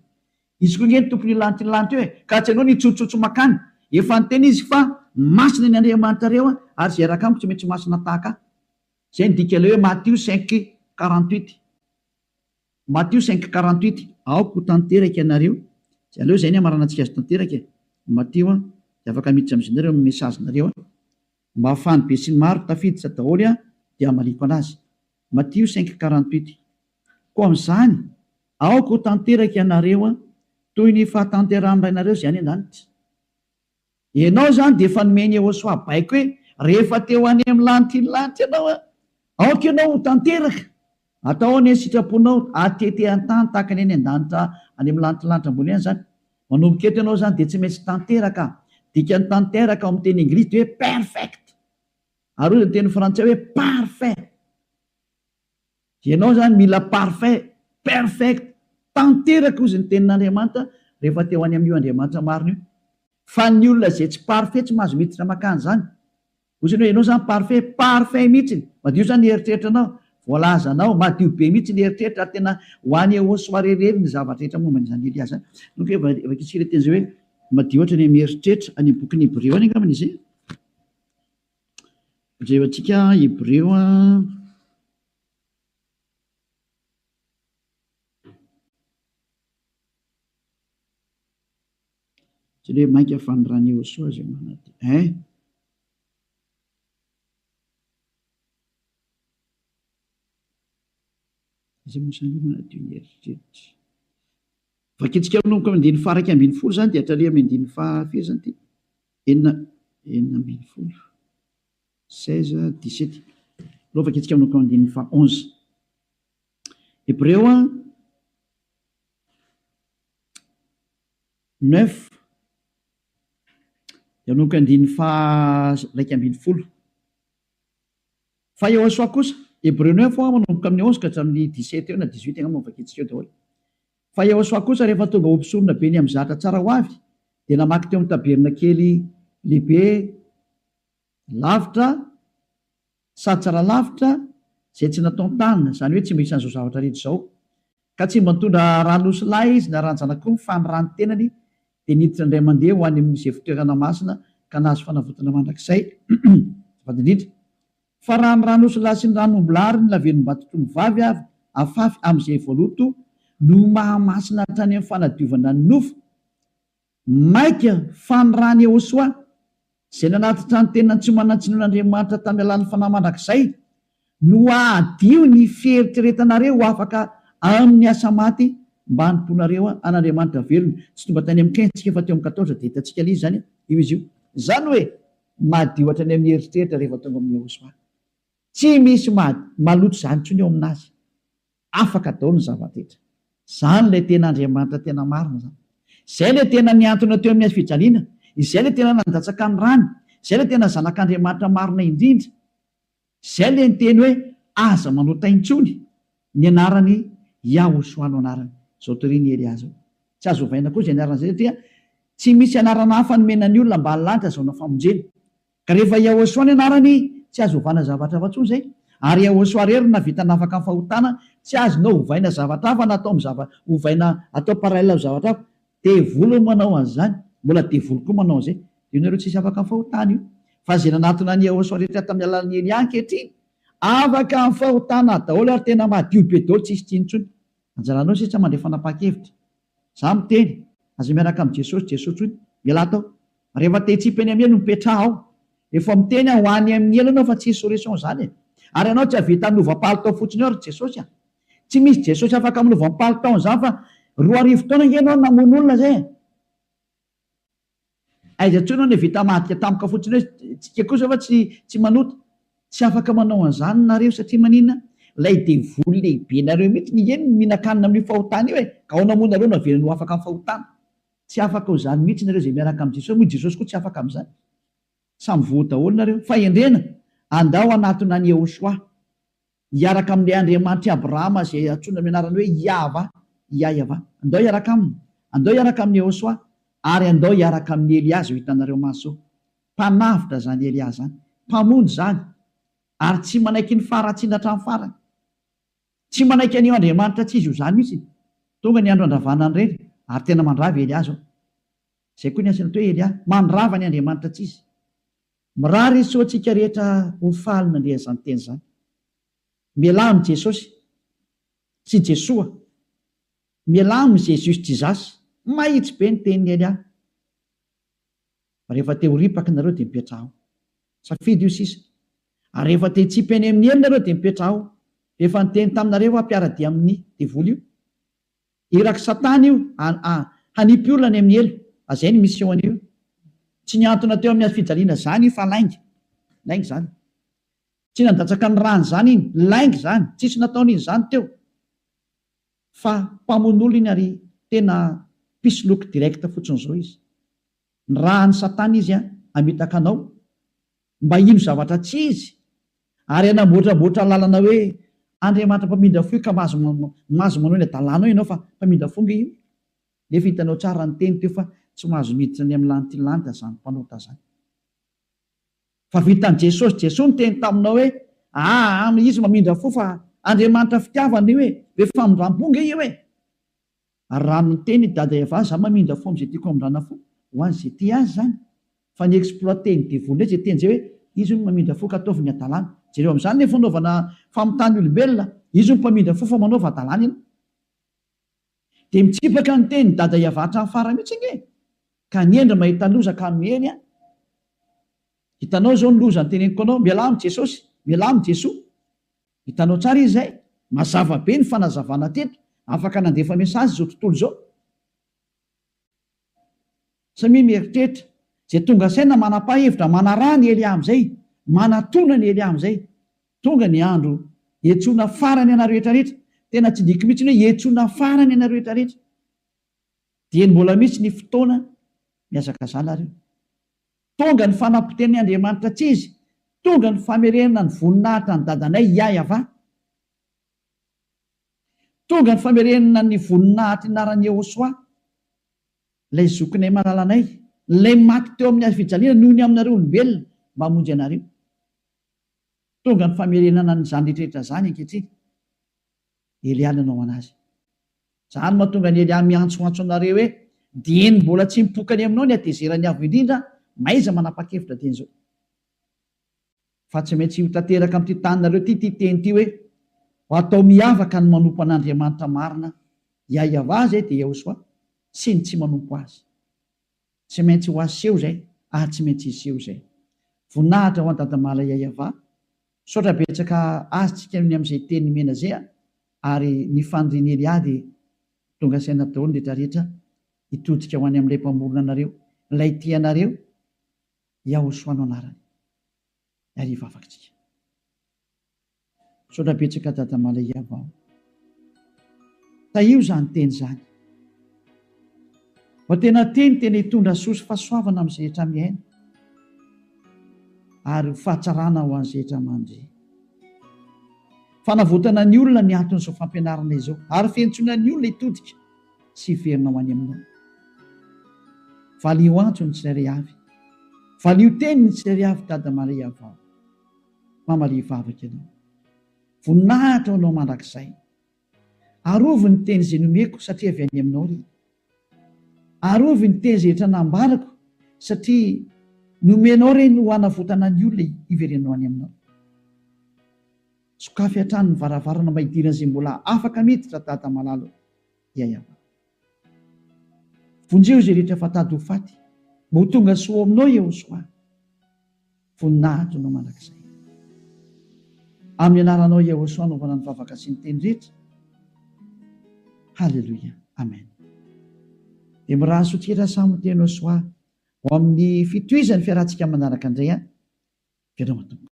Izy koa nge ny tompony io lanitra io lanitra io e! Ka tsy anao ny hitsotsotsy makany. Efa niteny izy fa masina ny Andriamanitrareo ary izay raka amiko tsy maintsy masina tahaka ahy. Izay no dika ilay hoe Matio cinq quarante huit. Matio cinq quarante huit. Aoka ho tanteraka ianareo, dia aleo izay ny hamaranantsika azy tanteraka e. Matio an, dia afaka miditra amin'izay nareo amin'ny message nareo an. Mba ahafahan'ny besinimaro tafiditra daholo an, dia hamaliako anazy. Matio cinq quarante huit. Koa amin'izany, aoka ho tanteraka ianareo an, toy ny fahatanterahan'ny Rainareo izay any an-danitra. Ianao izany dia efa nomen'i Yehosua baiko hoe, Rehefa te ho any amin'ny lanitriny lanitra ianao, aoka ianao ho tanteraka hatao ao ny sitraponao, hatete an-tany tahaka ny any an-danitra, any amin'ny lanitriny lanitra ambony any izany. Manomboka eto ianao izany dia tsy maintsy tanteraka. Dikan'ny tanteraka ao amin'ny teny Englisy dia hoe perfect, ary hoy izy amin'ny teny Frantsay hoe parfait. Ianao izany mila parfait, perfect, tanteraka hozy ny tenin'Andriamanitra rehefa te ho any amin'io Andriamanitra marina io. Fa ny olona izay tsy parfait tsy mahazo miditra makany izany. Hoy isany hoe ianao izany parfait, parfait mihitsy, madio izany ny eritreritranao, voalazanao, madio be mihitsy ny eritreritra ary tena ho any au soirée irery ny zavatra rehetra momba an'i Daniel dia izany. Nony koa efa vakintsika ilay teny izay hoe madio hatrany amin'ny eritreritra, any amin'ny bokin'ny Hebreo any angambany izay. Jereo antsika Hebreo Jereo mainka fa ny rany Yehosua izay manatena eh. Izay mosan'ny manatena ny heritreritra. Vakintsika manomboka amin'ny andininy faha iraika ambin'ny folo izany dia hatraria amin'ny andininy faha firy izany ity? Enina enina ambin'ny folo, seize, dix-sept. Aleo vakintsika manomboka amin'ny andininy faha onze. Hebreo a, neuf, dia manomboka andininy faha iraika ambin'ny folo. Fa Yehosua kosa, Hebreo no info manomboka amin'ny onze ka hatramin'ny dix sept eo na dix huit angamba no vakitsika eo daholo. Fa Yehosua kosa rehefa tonga ho mpisorona be ny amin'ny zahatra tsara ho avy dia namaky teo amin'ny tabernakely lehibe lavitra sady tsara lavitra izay tsy nataon-tanana, izany hoe tsy mba isan'izao zavatra rehetra izao, Ka tsy mba nitondra rà nosy lahy izy niarahan'ny zanak'omby fa ny ràn'ny tenany dia niditra indray mandeha ho any amin'ny Isefotoerana Masina ka nahazo fanavotana mandrakizay. Azafady indrindra. Fa raha ny rà nosy lahy sy ny ràn'omby lahy ary ny lavenon'Imbatotromby vavy avy afafy amin'izay voaloto no mahamasina hatrany amin'ny fanadiovana ny nofo, Maika fa ny rany Yehosoa, izay nanatitra ny tenany tsy ho manan-tsiny ho an'Andriamanitra tamin'ny alalan'ny fanahy mandrakizay, no hahadio ny fieritreretanareo ho afaka amin'ny asa maty mba hanompoanareo an'Andriamanitra velona. Tsy tonga tany amin'ny Qin tsika fa teo amin'ny Quatorze dia hitantsika lzy izany io izy io. Izany hoe madio hatrany amin'ny eritreritra rehefa tonga amin'i Yehosoa. Tsy misy maloto izany intsony eo amin'Azy. Afaka daholo ny zava-drehetra. Izany ilay tena Andriamanitra tena marina izany. Izay ilay tena nihantona teo amin'ny hazofijaliana, izay ilay tena nandatsaka ny rany, izay ilay tena Zanak'Andriamanitra marina indrindra. Izay ilay niteny hoe, Aza manota intsony ny anarany Yahushua no anarany. Izao torian'i Elia izao. Tsy azo ovaina koa izay anarana izay satria tsy misy anarana hafa nomena ny olona ambany lanitra azahoana famonjena. Ka rehefa Yahoshuah ny anarany tsy azo ovana zavatra hafa tsony zay. Ary Yahoshuah rery no navita nafaka ny fahotana, tsy azonao ovaina zavatra hafa na atao am zava ovaina atao parallel am zavatra hafa. Devoly no manao an'izany, mbola devoly koa manao an'izay. Io nareo tsisy afaka am fahotana io. Fa ze nanatona an'i Yahoshuah rehetra tam alalan'i Eliah ankehitriny afaka am fahotana daholo ary tena madio be daholo tsisy tsiny tsony. Anjaranao sisa mandray fanapahan-kevitra. Za miteny, aza miaraka am Jesosy Jesosy tson, ialahy atao. Rehefa te hitsipy any am elo mipetraha ao. Efa miteny aho ho any am ny elo anao fa tsisy solution zany e. Ary anao tsy ahavita milova palitao fotsiny eo ry Jesosy a. Tsy misy Jesosy afaka milova am palitaon zany fa roa arivo taona nge enao namono olona zay e. Aiza intsony hono i Vita mahadika tampoka fotsiny hoe tsika kosa va tsy tsy manota? Tsy afaka manao an'izany nareo satria maninona? Ilay devoly lehibe nareo mihitsy ny eny no mihinan-kanina amin'io fahotana io e! Ka aona moa nareo no avelany ho afaka amin'ny fahotana? Tsy afaka ho izany mihitsy nareo izay miaraka amin'i Jesosy moa i Jesosy koa tsy afaka amin'izany. Samy voa daholo nareo. Fahendrena! Andao hanatona an'i Yehoshuah. Hiaraka amin'ilay Andriamanitr'i Abrahama izay antsoina amin'ny anarany hoe Iahavah, Iahyavah. Andao hiaraka aminy. Andao hiaraka amin'i Yehosua. Ary andao hiaraka amin'i Elià izay ho hitanareo maso. Mpanavotra izany Elià izany. Mpamonjy izany. Ary tsy manaiky ny faharatsiana hatramin'ny farany. Tsy manaiky an'io Andriamanitra tsy izy ho zany mihitsy. Tonga ny andro handravana ny reny, ary tena mandrava i Elià izao. Izay koa ny asan'ilay hoe Elià. Mandrava ny Andriamanitra tsy izy. Mirary izy tsy ho antsika rehetra ho faly nandre an'izany teny izany. Mialà amin'i Jesosy. Tsy Jesoa. Mialà amin'i Jésus Jesus. Mahitsy be ny tenin'i Elia. Rehefa te ho ripaka nareo dia mipetraha ao. Safidy io sisa. Ary rehefa te hitsipy any amin'ny helo nareo dia mipetraha ao. Rehefa niteny taminareo aho mpiara-dia amin'ny devoly io. Irak'i Satana io a! Hanipy olona any amin'ny helo a! Zay ny mission-ny io. Tsy nihantona teo amin'ny hazofijaliana izany io fa lainga. Lainga izany. Tsy nandatsaka ny ràny izany iny. Lainga izany. Tsisy nataony izany teo. Fa mpamono olona iny ary tena mpisoloky direct fotsiny izao izy. Ny rahan'i Satana izy hamitaka anao mba hino zavatra tsy izy ary hanamboatramboatra lalana hoe Andriamanitra mpamindra fo io ka mahazo mahazo manao ny adalanao ianao fa mpamindra fo nge io nefa hitanao tsara ny teny teo fa tsy mahazo miditra any amin'ny lantilanita zany mpanota zany fa vitan'i Jesosy Jesoa niteny taminao hoe aa izy mamindra fo fa Andriamanitra fitiavana io e be famindrampo nge io e Ary raha miteny i Dada Eva za mamindra fo amzay tiako hamindrana fo ho azy ze tia azy zany fa ny exploiter ny devoly ndray ze teny zay hoe izy hono mamindra fo ka ataovy ny adalana jereo amzany le fanaovana famitany olombelona izy hono mpamindra fo fa manaova adalana ianao de mitsipaka ny teny Dada Eva hatrany farany mitsy ange ka ny hendry mahita loza ka miely an hitanao zao ny loza ny teneniko anao mialà am jesosy mialà am jesoa Hitanao tsara izy izay? Mazava be ny fanazavana teto. Afaka nandefa message izao tontolo izao. Samia mieritreritra. Izay tonga saina manapa hevitra, manaraha ny ely amzay, manatona ny ely amzay. Tonga ny andro hietsona farany anareo rehetra rehetra. Tena tsy diko mihitsy ny hoe hietsona farany anareo rehetra rehetra. Dieny mbola mihitsy ny fotoana mihazakazana ry. Tonga ny fanampoten'i Andriamanitra tsy izy, tonga ny famerena ny voninahitra an'i Dadanay Iahyavah, tonga ny famerena ny voninahitr'i Naran'i Yehosua, ilay zokinay malalanay, ilay maty teo amin'ny hazofijaliana noho ny aminareo olombelona mba hamonjy anareo. Tonga ny famerenana an'izany rehetra rehetra izany ankehitriny. Elia nanao an'azy. Izany no mahatonga an'i Elia miantsoantso anareo hoe, Dieny mbola tsy mipoka any aminao ny hatezeran'ny Avo Indrindra, mahaiza manapa-kevitra dieny izao. Fa tsy maintsy ho tanteraka amin'ity taninareo ity ity teny ity hoe, Ho atao miavaka ny manompo an'Andriamanitra marina, Iahiavah izay dia Iahosoa, sy ny tsy manompo azy. Tsy maintsy ho aseho izay, ary tsy maintsy hiseho izay. Voninahitra ho an'i Dadamala Iahiavah, Misaotra betsaka azy tsika ny amzay teny nomena zay a! ary ny fanirian'i Elia dia tonga saina daholo ny rehetra rehetra hitodika ho any amin'ilay mpamorona anareo, ilay tia anareo, Yahoshua no anarany. Ary hivavaka tsika. Misaotra betsaka Dada Malay Yavao. Tahio izany teny izany. Fa tena teny tena hitondra soa sy fahasoavana amin'ny zehetra miaina ary ho fahatsarana ho an'ny zehetra mandria. Fanavotana ny olona ny anton'izao fampianarana izao ary fiantsoana ny olona hitodika sy hiverina ho any Aminao. Valiho antso ny tsirairay avy. Valiho teny ny tsirairay avy Dada Maria Vavy. Mama Lia vavaka Ianao. Voninahitra ho Anao mandrakizay. Arovy ny teny izay nomeko satria avy any Aminao ry. Arovy ny teny izay efa nambarako satria nomenao ireny ho hanavotana ny olona hiverenanao any Aminao. Sokafy hatrany ny varavarana mba hidiran'izay mbola afaka miditra Dada malala o. Ya Yavah. Vonjeo izay rehetra efa tady ho faty mba ho tonga soa ao Aminao Yehosoa. Voninahitro Anao mandrakizay. Amin'ny anaranao Yahosua anaovana ny vavaka sy ny teny rehetra. Haleloia. Amen. Dia miraha soa tira Samo teny Yahosua ho amin'ny fitohizan'ny fiarahantsika manaraka indray an. Veloma Tompo.